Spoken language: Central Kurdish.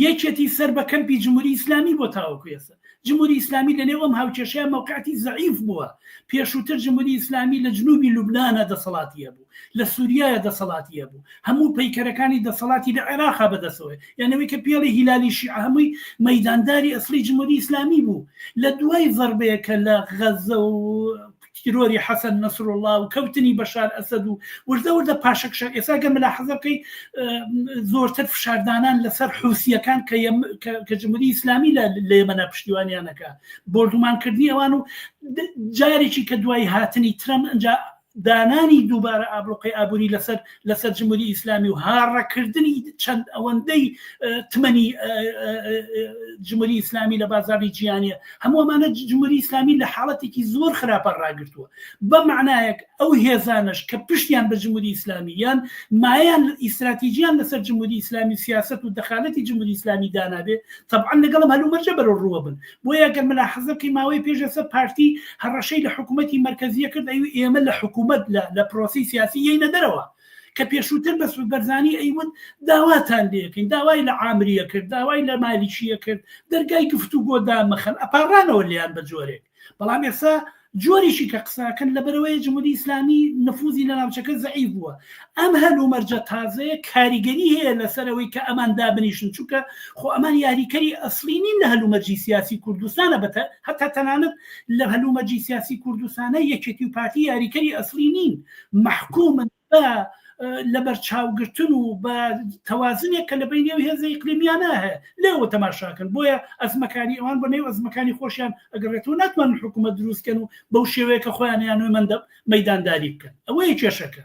یەکێتی سەر بە کەمپی جموری ئیسلامی بۆ تاوەکو ئێستا جموری ئیسلامی لە نێو ئەم هاوکێشەیە مەوقعتی زەعیف بووە پێشووتر جموری ئیسلامی لە جنوبی لوبنانا دەسەڵاتی هەبوو لە سوریایە دەسەڵاتی هەبوو هەموو پەیکەرەکانی دەسەڵاتی لە عێراقا بەدەسەوەی یانەوەی کە پێڵی هیلالی شیعە هەمووی مەیدانداری ئەسڵی جموری ئیسلامی بوو لە دوای زەڕبەیەکە لە غەزە و تیرۆری حەسەن نەسروڵڵا و کەوتنی بەشار ئەسەد و وردە وردە پاشەکشە ئێستا گەر ملاحەزە بکەیت زۆرتر فشاردانان لەسەر حوسیەکان کە کە جمهوری ئیسلامی لە لێمەە پشتیوانیانەکە بردومانکردنی ئەوان و جارێکی کە دوای هاتنی ترەم ئەجا دانانی دووبارە ئابلوقی ئابووری لەسەر لەسەر جمهوری ئیسلامی و هاڕەکردنی چەند ئەوەندەی تمەنی جمهوری ئیسلامی لە بازاری جیانە هەموومانە جمهوری ئیسلامی لە حاڵەتێکی زۆر خراپە ڕاگرتووە بە معنایەک ئەو هێزانش کە پشتیان بە جمهوری ئیسلامی یان مایان ئیسراتیجیان لەسەر جمهوری ئیسلامی سیاست و دەخالەتی جمهوری ئیسلامی دانابێ طبعا لەگەڵم هەلومەرجە بەرە ڕووە بن بۆیە گەر ملاحەزە بکەین ماوەی پێش ئێستا پارتی هەڕەشەی لە حکوومەتی مەرکەزیە کرد ئەوی ئێمە لە حکوومەت لە لە پرۆسی سیاسی یەینە دەرەوە کە پێشووتر بە سود بەرزانی ئەیوت داواتان لەکەین داوای لە ئامریە کرد داوای لە مالیشیە کرد دەرگای گفتو گۆدا مەخەن ئەپارانەوە لیان بە جۆرێک بەڵام ئێستا جۆرێکی کە قسەکەن لەبەرەوەی جمهوری ئیسلامی نفوزی لە ناوچەکە زعیف بووە ئەم هەل و مەرجە تازەیە کاریگەری هەیە لەسەرەوەی کە ئەمان دابنیشن چونکە خۆ ئەمان یاریکەری ئەسلی نین لە هەل و مەرجی سیاسی کوردستانە بەتە هەتا تەنانەت لە هەل و مەرجی سیاسی کوردستانە یەکێتی و پارتی یاریکەری ئەسلی نین محکومن بە لەبەرچاوگرتن و بە تەوازنێک کە لە بینێ و هێزە ئیقلیمیانە هەیە لێەوە تەماشاکەن بۆیە ئەزمەکانی ئەوان بە نێو ئەزمەکانی خۆشیان ئەگەڕێت و ناتوان حکوومەت دروستکەن و بەو شێوەیە کە خۆیان یان نوێ مندە مەدانداری بکەن ئەوەیە کێشەکە